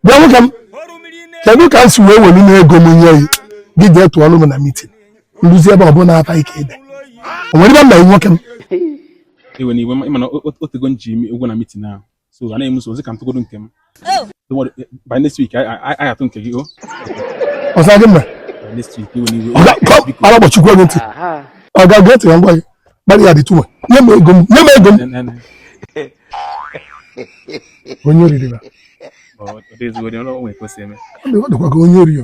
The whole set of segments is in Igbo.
bịa nwoke m kedu ka m si wee welu n'ego m nye gị gị jee tụọrụ m na mitin nduzi ebe ọbụla ata ike ede o nwere ibe m na nwoke m iwena iwe mana o tego m ji ụgwọ na mitin ahụ so anaghị m nso ka m tụgodo nke m oh. eh, by next week anyị atụ nke gị o oh. ọsa gị mma next week iwena iwe ọ ga-agbachikwa gị ntị ọga gị ntị na ngwa gị gbalị ya dị tuwe nye m ego m nye m ego m onye oriri ba ọ dịkwa gị onye oriri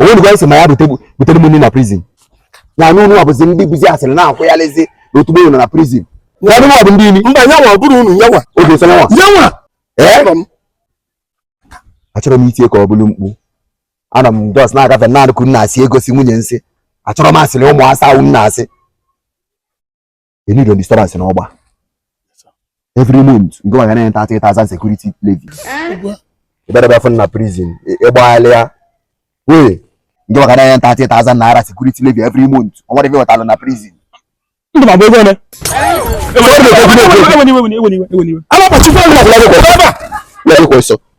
o nwenụkwa isi ma ya butere m nri na prizin na anụ ụnụ abụzi ndị bụzi asịrị na-ekwu ya lezi na otu nọ na prizin na anụ ọbụ ndị imi mba yanwa bụrụ unu yanwa oge sọ yanwa yanwa ee achọrọ m itinye ka ọ bụrụ mkpu anọ m just na-agafe na-anụ ka a na-asị egosi nwunye nsị achọrọ m asịrị ụmụ asa ahụ na-asị enidon disturbance na ọgba every month nke nwa ga na-enye thirty thousand security levy ị bịa abịa fụ na prison ị gbalịa wee nke nwa ga na-enye thirty thousand naira security levy every month o nwere ife wetara na prison ndụ ma bụ ego ole alakpachikwa ụlọ ọbụla gị kwesị